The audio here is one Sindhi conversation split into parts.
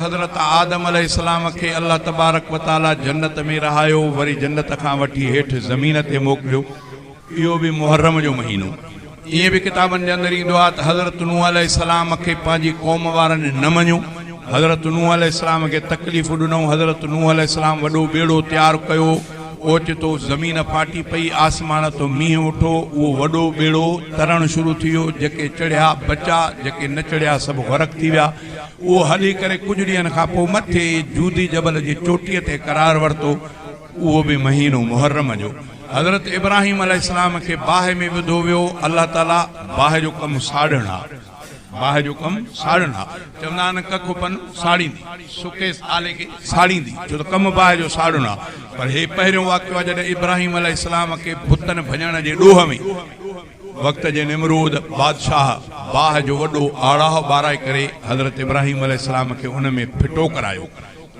حضرت آدم عليه السلام کي الله تبارڪ و تعالي جنت ۾ رهايو وري جنت کان وٺي هيٺ زمين تي موڪليو اهو به محرم جو مهينو ائين به ڪتابن جي اندر ايندو آهي ته حضرت نوح عليه السلام کي پنهنجي قوم وارن نه مڃيو حضرت نوح عليه السلام کي تڪليفون ڏنئون حضرت نوح عليه السلام وڏو ٻيڙو تيار ڪيو اوچتو زمين ڦاٽي پئي آسمان تون مينهن وٺو اهو وڏو ٻيڙو ترڻ شروع ٿي ويو جيڪي چڙهيا بچا جيڪي نه چڙهيا سڀ غرق ٿي ويا اهو هلي ڪري ڪجهه ڏينهن کان پوء مٿي جودي جبل جي چوٽيء تي قرار ورتو، اهو به مهينو محرم جو. حضرت ابراهيم عليه السلام کي باهه ۾ وڌو ويو، الله تعاليٰ باهه جو ڪم ساڙڻ آ، باهه جو ڪم ساڙڻ آ، چوندا آهن ڪک پن ساڙيندي، سڪيس آلي کي ساڙيندي، ڇو ته ڪم باهه جو ساڙڻ آ، پر هي پهريون واقعو آ جڏهن ابراهيم عليه السلام کي بتن ڀڃڻ جي ڏوهه ۾. وقت جي نمرود بادشاهه باهه جو وڏو آڙاهه ٻاراهه ڪري حضرت ابراهيم عليه السلام کي ان ۾ ڦٽو ڪرايو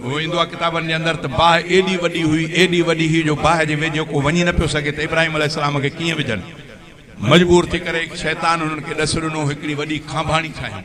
هو ايندو آهي ڪتابن جي اندر ته باهه ايڏي وڏي هئي ايڏي وڏي هئي جو باهه جي ويجهو ڪو وڃي نه پيو سگهي ته ابراهيم عليه السلام کي ڪيئن وجهن مجبور ٿي ڪري شيطان انهن کي ڏس ڏنو هڪڙي وڏي کانڀاڻي ٺاهيون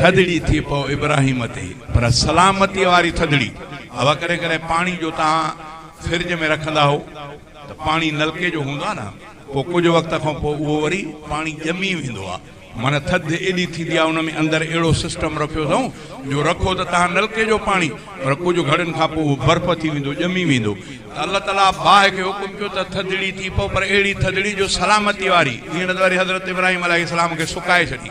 ٿڌڙي ٿي پئو ابراهيم تي پر سلامتي واري ٿڌڙي اھا ڪڏھن ڪڏھن پاڻي جو تھان فرج ۾ رکندا ھئو ته پاڻي نلڪي جو ھوندو آھي نه پوء ڪجھ وقت کان پوء اھو وري پاڻي ڄمي ويندو آھي معنيٰ ٿڌ ايڏي ٿيندي آھي ان ۾ اندر اھڙو سسٽم رکيو اٿئون جو رکو ته تھان نلڪي جو پاڻي پر ڪجھ گھڙين کان پوء اھو برف ٿي ويندو ڄمي ويندو ته الله تعاليٰ باھ کي حڪم ڪيو ته ٿڌڙي ٿي پئو پر اھڙي ٿڌڙي جو سلامتي واري ھينئر ته وري حضرت ابراهيم عليه السلام کي سڪائي ڇڏي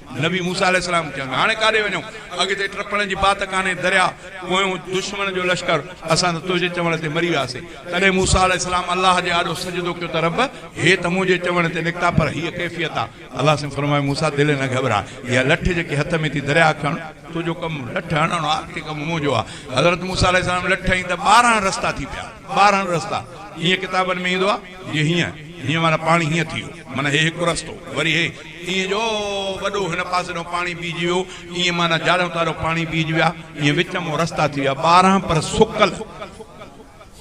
نبي موسيٰ عليه السلام چيو هاڻي ڪاڏي وڃون؟ اڳتي ٽپڻ جي بات ڪانهي درياء پويون دشمن جو لشڪر، اسان ته تنهنجي چوڻ تي مري وياسين. تڏهن موسيٰ عليه السلام الله جي آڏو سجدو ڪيو ته رب! هي ته منهنجي چوڻ تي نڪتا پر هيء ڪيفيت آ. الله سين فرمايو موسيٰ دل نه گهٻراء، اها لٺ جيڪي هٿ ۾ ٿي درياء کڻ، تنهنجو ڪم لٺ هڻڻ آ، اڳتي ڪم منهنجو آ. حضرت موسيٰ عليه السلام لٺ هنئي ته ٻارهن رستا ٿي پيا، ٻارهن رستا جيئن ڪتابن ۾ ايندو آ جي هيئن، هيئن معنيٰ پاڻي هيئن ٿي ويو معنيٰ هي هڪ رستو وري هي، ائين جو وڏو هن پاسي ڏانهن پاڻي بيهجي ويو، ائين معنيٰ جاريون تاريون پاڻي بيهجي ويا، ائين وچ مان رستا ٿي ويا، ٻارهن پر سڪل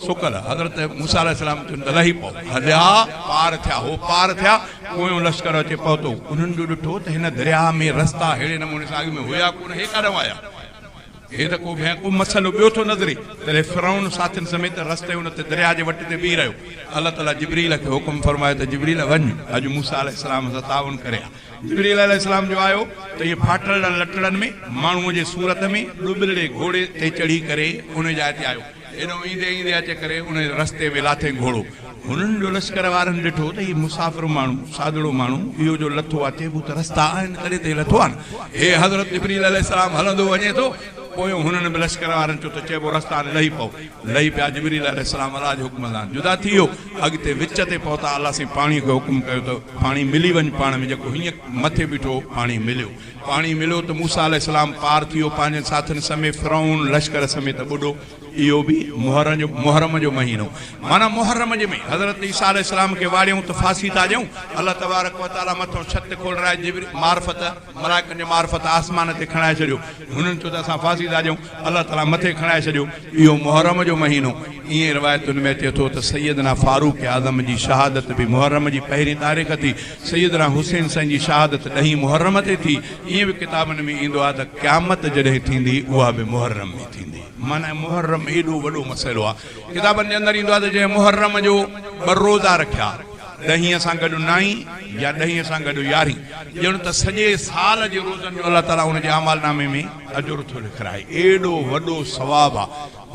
سڪل، حضرت موسيٰ عليه السلام چيو ته لهي پئو، هليا، پار ٿيا، هو پار ٿيا، پويون لشڪر اچي پهتو، انهن جو ڏٺو ته هن درياهه ۾ رستا ههڙي نموني سان اڳ ۾ هيا ڪونه، هي ڪاڏانهن آيا؟ هي ته ڪو بيان ڪو مسئلو ٻيو ٿو نظري. تڏهن فرعون ساٿين سميت رستي ان تي درياء جي وٽ تي بيهي رهيو. الله تعاليٰ جبريل کي حڪم فرمايو ته جبريل وڃ اڄ موسيٰ عليه السلام سان تعاون ڪري آ. جبريل عليه السلام جو آيو ته اهي ڦاٽل لٽڙن ۾ ماڻهوء جي صورت ۾ ڏٻرڙي گهوڙي تي چڙهي ڪري ان جاء تي آيو. هيڏهون ايندي ايندي اچي ڪري ان رستي ۾ لاٿي گهوڙو. هنن جو لشڪر وارن ڏٺو ته هي مسافر ماڻهو، سادڙو ماڻهو، اهو جو لٿو آ چئبو ته رستا آهن تڏهن ته هي لٿو آ نه. هي حضرت جبريل عليه السلام هلندو وڃي ٿو. پويون هنن به لشڪر وارن چيو ته چئبو رستا آهن لهي پئو. لهي پيا جبريل عليه السلام الله جي حڪم سان جدا ٿي ويو. اڳتي وچ تي پهتا الله سائين پاڻي کي حڪم ڪيو ته پاڻي ملي وڃ پاڻ ۾ جيڪو هينئن مٿي بيٺو هو پاڻي مليو. پاڻي مليو ته موسيٰ عليه السلام پار ٿيو پنهنجن ساٿين سميت فرعون لشڪر سميت ٻڏو اهو به محرم جو مهينو معنيٰ محرم جي ۾ حضرت عيسيٰ عليه السلام کي واڙيون ته ڦاسي ٿا ڏيون الله تبارڪ و تعالي مٿو ڇت کولرائي جبريل معرفت ملائڪن جي معرفت آسمان تي کڻائي ڇڏيو هنن چيو ته اسان ڦاسي ٿا ڏيون الله تعالي مٿي کڻائي ڇڏيو اهو محرم جو مهينو ائين روايتن ۾ اچي ٿو ته سيدنا فاروق اعظم جي شهادت به محرم جي پهرين تاريخ ٿي سيدنا حسين سائين جي شهادت ڏهين محرم تي ٿي، ائين به ڪتابن ۾ ايندو آهي ته قيامت جڏهن ٿيندي اها به محرم ۾ ٿيندي. معنيٰ محرم ايڏو وڏو مسئلو آهي. ڪتابن جي اندر ايندو آهي ته جنهن محرم جو ٻه روزا رکيا، ڏهين سان گڏ نائين يا ڏهين سان گڏ يارهين، ڄڻ ته سڄي سال جي روزن جو الله تعاليٰ ان جي اعمال نامي ۾ اجر ٿو لکرائي. ايڏو وڏو ثواب آهي.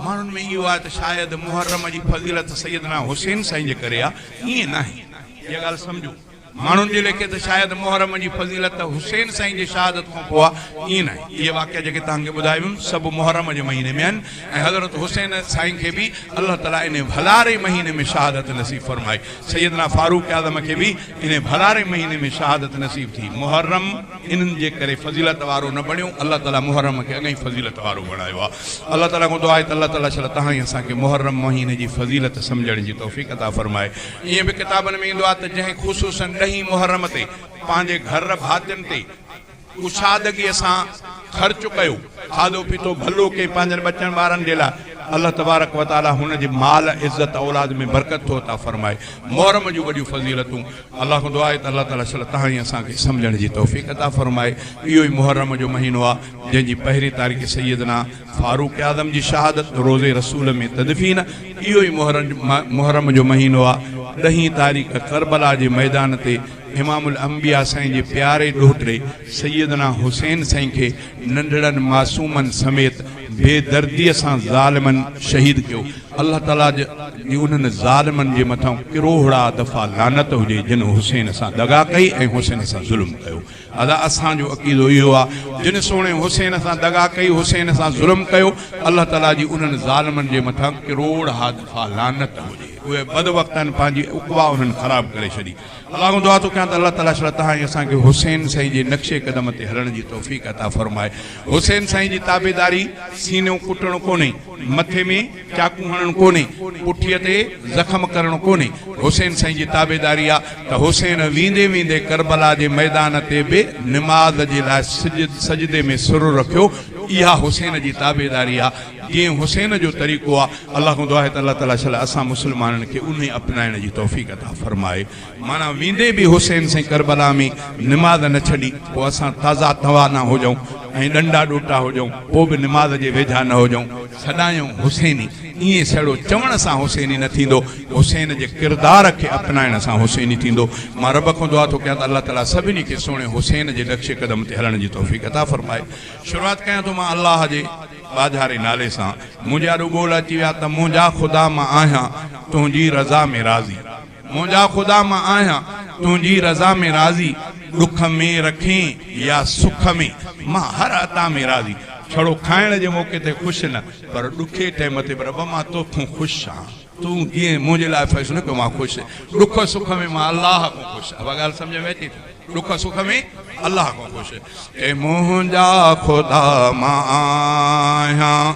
ماڻهن ۾ اهو آهي ته شايد محرم جي فضيلت سيدنا حسين سائين جي ڪري آهي، ائين ناهي. اها ڳالهه سمجهو ماڻهن جي ليکي ته شايد محرم جي فضيلت ته حسين سائين جي شهادت کان پوء آ، ائين ناهي. اهي واقعا جيڪي توهان کي ٻڌايا ويم سڀ محرم جي مهيني ۾ آهن ۽ حضرت حسين سائين کي به الله تعالي انهي ڀلاري مهيني ۾ شهادت نصيب فرمائي. سيدنا فاروق اعظم کي به انهي ڀلاري مهيني ۾ شهادت نصيب ٿي. محرم انهن جي ڪري فضيلت وارو نه بڻيو، الله تعالي محرم کي اڳئين فضيلت وارو بڻايو آ. الله تعالي کان دعا آهي ته الله تعالي شل توهان ۽ اسان کي محرم مهيني جي فضيلت سمجهڻ جي توفيق عطا فرمائي. ائين به ڪتابن ۾ ايندو آهي ته جنهن خصوصن ڏهين محرم تي پنهنجي گهر ڀاتين تي ڪشادگيء سان خرچ ڪيو، کاڌو پيتو ڀلو ڪيئي پنهنجن ٻچن ٻارن جي لاء، الله تبارڪ و تعاليٰ هن جي مال، عزت، اولاد ۾ برڪت ٿو عطا فرمائي. محرم جون وڏيون فضيلتون، الله کان دعا آهي ته الله تعاليٰ صلح تهائين اسان کي سمجهڻ جي توفيق عطا فرمائي. اهو ئي محرم جو مهينو آهي جنهن جي پهرين تاريخ سيدنا. فاروق اعظم جي شهادت روضي رسول ۾ تدفين اهو ئي محرم جو مهينو آ، ڏهين تاريخ ڪربلا جي ميدان تي امام الانبياء سائين جي پياري ڏوهٽڙي سيدنا حسين سائين کي ننڍڙن معصومن سميت بي دردي سان ظالمن شهيد ڪيو الله تعالي جي انهن ظالمن جي مٿان ڪروهڙا دفعا لعنت هجي جن حسين سان دغا ڪئي ۽ حسين سان ظلم ڪيو. ادا اسان جو عقيدو اهو آ جن سهڻي حسين سان دغا ڪئي حسين سان ظلم ڪيو الله تعالي جي انهن ظالمن جي مٿان ڪروڙ ها دفعا لعنت هجي اهي بد وقتن پنهنجي عقبا انهن خراب ڪري ڇڏي الله کان دعا ٿو ڪيان ته الله تعالي شڙ تهان ۽ اسان کي حسين سائين جي نقش قدم تي هلڻ جي توفيق عطا فرمائي حسين سائين جي تابعداري سينو ڪٽڻ ڪونهي مٿي ۾ چاقو هڻڻ ڪونهي، پٺيء تي زخم ڪرڻ ڪونهي، حسين سائين جي تابعداري آ ته حسين ويندي ويندي ڪربلا جي ميدان تي به نماز جي لاء سجدي ۾ سر رکيو، اها حسين جي تابعداري آ، جيئن حسين جو طريقو آ، الله کان دعا آهي ته الله تعاليٰ شل اسان مسلمانن کي انهي اپنائڻ جي توفيق عطا فرمائي. معنيٰ ويندي به حسين سين ڪربلا ۾ نماز نه ڇڏي پوء اسان تازا توانا هجئون ۽ ڏنڊا ڏوٽا هجئون پوء به نماز جي ويجها نه هجئون سڏايون حسيني ائين سهڙو چوڻ سان حسيني نه ٿيندو حسين جي ڪردار کي اپنائڻ سان حسيني ٿيندو مان رب کان دعا ٿو ڪيان ته الله تعالي سڀني کي سهڻي حسين جي نقش قدم تي هلڻ جي توفيق عطا فرمائي شروعات ڪيان ٿو مان الله جي ٻاجهاري نالي سان منهنجي آڏو ٻول اچي ويا ته منهنجا خدا مان آهيان تنهنجي رضا ۾ راضي. منهنجا خدا مان آهيان تنهنجي رضا ۾ راضي ڏک ۾ رکين يا سک ۾ مان هر عطا ۾ راضي ڇڙو کائڻ جي موقعي تي خوش نه پر ڏکي ٽيم تي به رب مان توکون خوش آهيان تون جئين منهنجي لاء فيصلو ڪيو مان خوش ڏک سک ۾ مان الله کان خوش آهيان اها ڳالهه سمجهه ۾ اچي ٿي ڏک سک ۾ الله کان خوش اي منهنجا خدا مان آهيان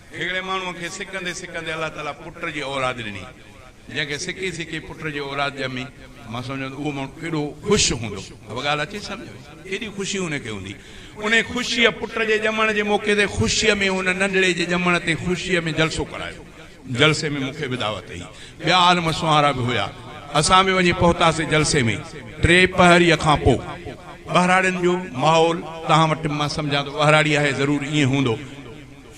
هڪڙي ماڻهوء کي سڪندي سڪندي الله تعاليٰ پٽ جي اولاد ڏني، جنهن کي سڪي سڪي پٽ جي اولاد ڄمي، مان سمجهان ته اهو ماڻهو ڪيڏو خوش هوندو، اها ڳالهه اچي سمجهه ۾، ڪيڏي خوشي ان کي هوندي، انهيء خوشيء پٽ جي ڄمڻ جي موقعي تي خوشيء ۾ ان ننڍڙي جي ڄمڻ تي خوشيء ۾ جلسو ڪرايو، جلسي ۾ مون کي به دعوت هئي، ٻيا عالم سونهارا به هيا، اسان به وڃي پهتاسين جلسي ۾، ٽي پهريء کان پوء، ٻهراڙين جو ماحول توهان وٽ مان سمجهان ٿو ٻهراڙي آهي ضرور ائين هوندو،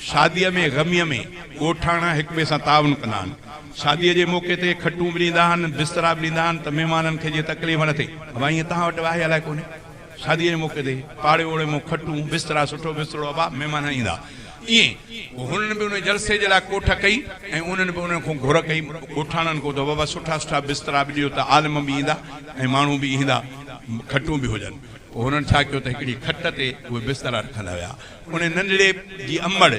شاديء ۾ غميء ۾ ڳوٺاڻا هڪ ٻئي سان تعاون ڪندا آهن. شاديء جي موقعي تي کٽون به ڏيندا آهن، بسترا به ڏيندا آهن ته مهمانن کي جيئن تڪليف نه ٿئي. ابا ائين توهان وٽ آهي الائي ڪونهي. شاديء جي موقعي تي پاڙي اوڙي مون کٽون، بسترا، سٺو بسترو ابا، مهمان ايندا ائين. پوء هنن به ان جلسي جي لاء ڪوٺ ڪئي ۽ انهن به انهن کون گهر ڪئي، ڳوٺاڻن کون ته ابا سٺا سٺا بسترا به ڏيو ته عالم به ايندا ۽ ماڻهو به ايندا، کٽون به هجن. پوء هنن ڇا ڪيو ته هڪڙي کٽ تي اهي بسترا رکندا ويا. انهيء ننڍڙي جي امڙ،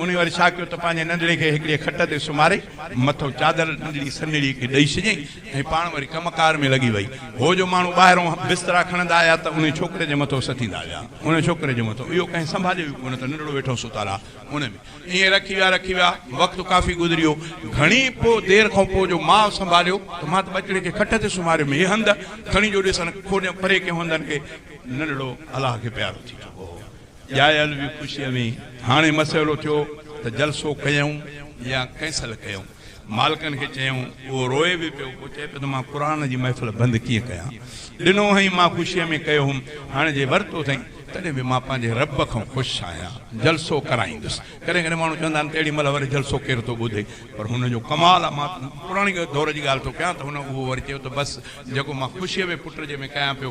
انهيء وري ڇا ڪيو ته پنهنجي ننڍڙي کي هڪڙيء کٽ تي سمهاري، مٿو چادر ننڍڙي سنهڙيء کي ڏئي ڇڏيائين ۽ پاڻ وري ڪم ڪار ۾ لڳي وئي. هو جو ماڻهو ٻاهرون بسترا کڻندا آيا ته انهيء ڇوڪري جي مٿو سٿيندا ويا. انهيء ڇوڪري جو مٿو اهو ڪنهن سنڀاليو ئي ڪونه ته ننڍڙو ويٺو ستل آ، انهيء ۾ ائين رکي ويا، رکي ويا. وقت ڪافي گذريو. گهڻي پوء دير کان پوء جو ماء سنڀاليو ته مان ته ٻچڙي کي کٽ تي سمهاريم، هي هنڌ کڻي جو ڏسن، کوليم پري ڪيم هنڌن کي، ننڍڙو الله کي پيارو ٿي چڪو هو. ڄايل به خوشيء ۾ هاڻي مسئلو ٿيو ته جلسو ڪيائون يا ڪئنسل ڪيائون. مالڪن کي چيائون. اهو روئي به پيو. پوء چئي پيو ته مان قرآن جي محفل بند ڪيئن ڪيان. ڏنو هئائين مان خوشيء ۾ ڪيو هوم. هاڻي جي ورتو اٿئين تڏهن به مان پنهنجي رب کان خوش آهيان. جلسو ڪرائيندس. ڪڏهن ڪڏهن ماڻهو چوندا آهن ته اهڙي مهل وري جلسو ڪير ٿو ٻڌي. پر هن جو ڪمال آهي. مان پراڻي دور جي ڳالهه ٿو ڪيان ته هن اهو وري چيو ته بس جيڪو مان خوشيء ۾ پٽ جي ۾ ڪيان پيو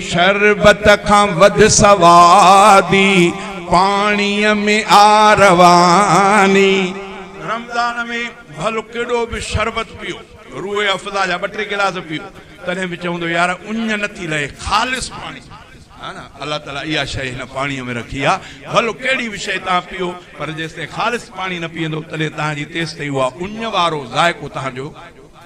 شربت کان وڌ سوادي، پاڻيء ۾ آ رواني. رمضان ۾ ڀل ڪيڏو به شربت پيو، روح افزا جا ٻه ٽي گلاس پيو، تڏهن به چوندو يار اڃ نٿي لهي، خالص پاڻي آهي نه، الله تعاليٰ اها شيء هن پاڻيء ۾ رکي آهي، ڀل ڪهڙي به شيء توهان پيو، پر جيستائين خالص پاڻي نه پيئندو، تڏهن توهان جي تيستائين اها اڃ وارو ذائقو توهان جو.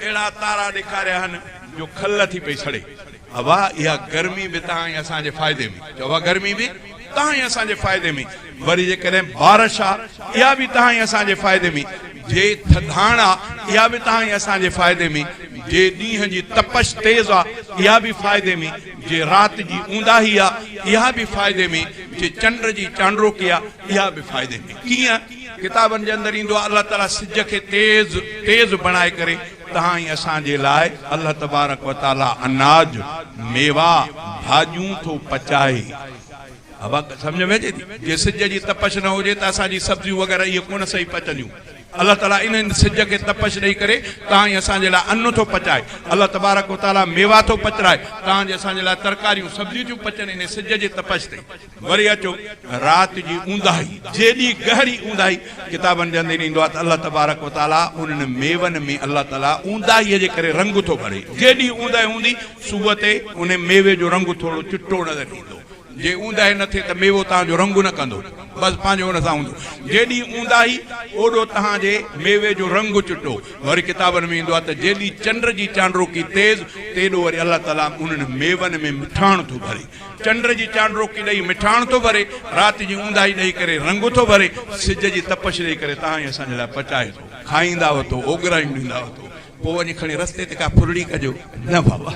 اهڙا تارا ڏيکاريا هن جو کل ٿي پئي سڙي. اوا اها گرمي به تان ۽ اسان جي فائدي ۾. جو اها گرمي به تان ۽ اسان جي فائدي ۾. وري جيڪڏهن بارش آ اها به تان ۽ اسان جي فائدي ۾. جي ٿڌاڻ آ اها به تان ۽ اسان جي فائدي ۾. جي ڏينهن جي تپش تيز آ اها به فائدي ۾. جي رات جي اونداهي آ اها به فائدي ۾. جي چنڊ جي چانڊروڪي آ اها به فائدي ۾. ڪيئن؟ ڪتابن جي اندر ايندو آهي الله تعالي سج کي تيز تيز بڻائي ڪري تهان ۽ اسان جي لاء الله تبارڪ وتعالي اناج، ميوا، ڀاڄيون ٿو پچائي. ابا سمجهه ۾ اچي ٿي؟ جي سج جي تپش نه هجي ته اسان جي سبزيون وغيره اهي ڪونه صحيح پچنديون. الله تعالي انهن سج کي تپش ڏئي ڪري تهان ۽ اسان جي لاء ان ٿو پچائي. الله تبارڪ وتعالي ميوا ٿو پچرائي تهان جي اسان جي لاء ترڪاريون سبزيون ٿيون پچن انهي سج جي تپش تي. وري اچو رات جي اونداهي جيڏي گهري اونداهي ڪتابن جي اندر ايندو آهي ته الله تبارڪ و تعالي انهن ميون ۾ الله تعالي اونداهي جي ڪري رنگ ٿو ڀري جيڏي اونداهي هوندي صبح تي ان ميوي جو رنگ ٿورو چٽو نظر ايندو جي اونداهي نه ٿئي ته ميوو تهان جو رنگ نه ڪندو بس پنهنجو ان سان هوندو جيڏي اونداهي اوڏو تهان جي ميوي جو رنگ چٽو وري ڪتابن ۾ ايندو آهي ته جيڏي چنڊ جي چانڊروڪي تيز تيڏو وري الله تعالي انهن ميون ۾ مٺاڻ ٿو ڀري چنڊ جي چانڊروڪي ڏئي مٺاڻ ٿو ڀري، رات جي اونداهي ڏئي ڪري رنگ ٿو ڀري، سج جي تپش ڏئي ڪري تهائين اسان جي لاء پچائي ٿو، کائيندا اٿو، اوڳرايون ڏيندا اٿو، پوء وڃي کڻي رستي تي ڪا ڦرڙي ڪجو نه بابا!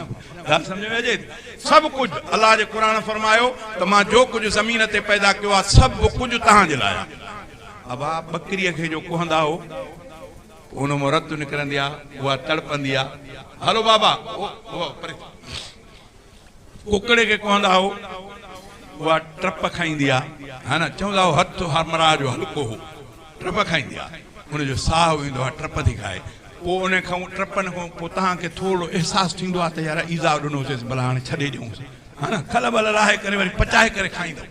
ڳالهه سمجهه ۾ اچي ٿي؟ سڀ ڪجهه، الله جي قرآن فرمايو ته مان جو ڪجهه زمين تي پيدا ڪيو آهي، سڀ ڪجهه توهان جي لاء آهي. ابا ٻڪريء کي جو ڪهندا هو، پوء ان مان رت نڪرندي آهي، اها تڙپندي آهي، هلو بابا! او، او، پري ٿي. ڪڪڙي کي ڪهندا هو اها ٽپ کائيندي آ ها نه چوندا هو هٿ همراهه جو هلڪو هو ٽپ کائيندي آ ان جو ساهه ويندو آ ٽپ ٿي کائي پوء ان کان ٽپن کان پوء توهان کي ٿورڙو احساس ٿيندو آ ته يار ايذاء ڏنوسيس ڀلا هاڻي ڇڏي ڏيونس ها نه کل ول لاهي ڪري وري پچائي ڪري کائيندو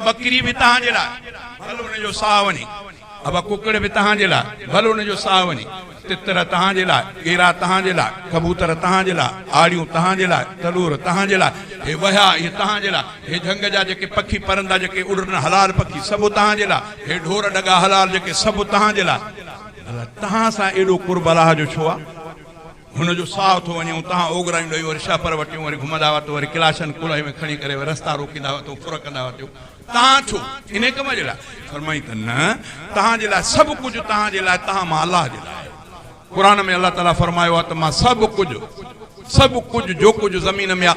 ٻڪري به توهان جي لاء ڀل ان جو ساهه وڃي. ابا ڪڪڙ به تهان جي لاء، ڀل ان جو ساهه وڃي. تتر تهان جي لاء، ڪيرا تهان جي لاء، ڪبوتر تهان جي لاء، آڙيون تهان جي لاء، تلور تهان جي لاء. هي وهيا، اهي تهان جي لاء. هي جهنگ جا جيڪي پکي پرندا جيڪي اڏرن حلال پکي سڀ تهان جي لاء. هي ڍور ڍڳا حلال جيڪي سڀ تهان جي لاء. ڀلا تهان سان ايڏو قرب الله جو ڇو آ؟ هن جو ساهه ٿو وڃي، اتان اوڳرايون ڏئي وري شهپر وٽيون وري گهمندا هئا ته وري ڪلاشن ڪلهي ۾ کڻي ڪري وري رستا روڪيندا هئا ته ڦر ڪندا هئا ٿيو تهان ڇو انهي ڪم جي لاء؟ فرمائين ته نه تهان جي لاء سڀ ڪجهه تهان جي لاء تهان مان الله جي لاء آهي قرآن ۾ الله تعالي فرمايو آهي ته مان سڀ ڪجهه سڀ ڪجهه جو ڪجهه زمين ۾ آهي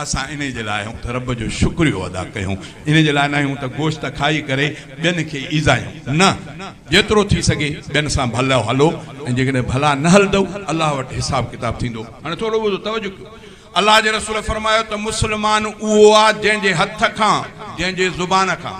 اسان انهي جي لاء آهيون ته رب جو شڪريو ادا ڪيون، انهي جي لاء ناهيون ته گوشت کائي ڪري ٻين کي ايذايون، نه! جيترو ٿي سگهي ٻين سان ڀلو هلو ۽ جيڪڏهن ڀلا نه هلندؤ، الله وٽ حساب ڪتاب ٿيندو. هاڻي ٿورو ٻڌو، توجه ڪيو، الله جي رسول فرمايو ته مسلمان اهو آ جنهن جي هٿ کان، جنهن جي زبان کان،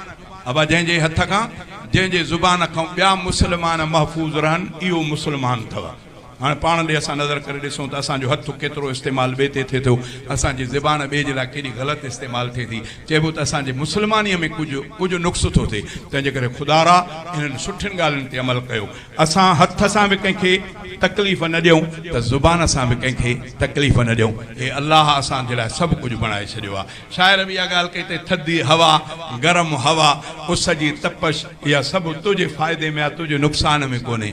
ابا جنهن جي هٿ کان، جنهن جي زبان کان ٻيا مسلمان محفوظ رهن، اهو مسلمان اٿو. هاڻ پاڻ ڏي اسان نظر ڪري ڏسون ته اسان جو هٿ ڪيترو استعمال ٻئي تي ٿئي ٿو. اسان جي زبان ٻئي جي لاء ڪيڏي غلط استعمال ٿئي ٿي. چئبو ته اسان جي مسلمانيء ۾ ڪجهه ڪجهه نقص ٿو ٿئي. تنهن جي ڪري خدارا انهن سٺين ڳالهين تي عمل ڪيو. اسان هٿ سان به ڪنهن کي تڪليف نه ڏيون ته زبان سان به ڪنهن کي تڪليف نه ڏيون. هي الله اسان جي لاء سڀ ڪجهه بڻائي ڇڏيو آهي. شاعر به اها ڳالهه ڪئي اٿئي ٿڌي هوا، گرم هوا، اس جي تپش اها سڀ تنهنجي فائدي ۾ آهي تنهنجي نقصان ۾ ڪونهي.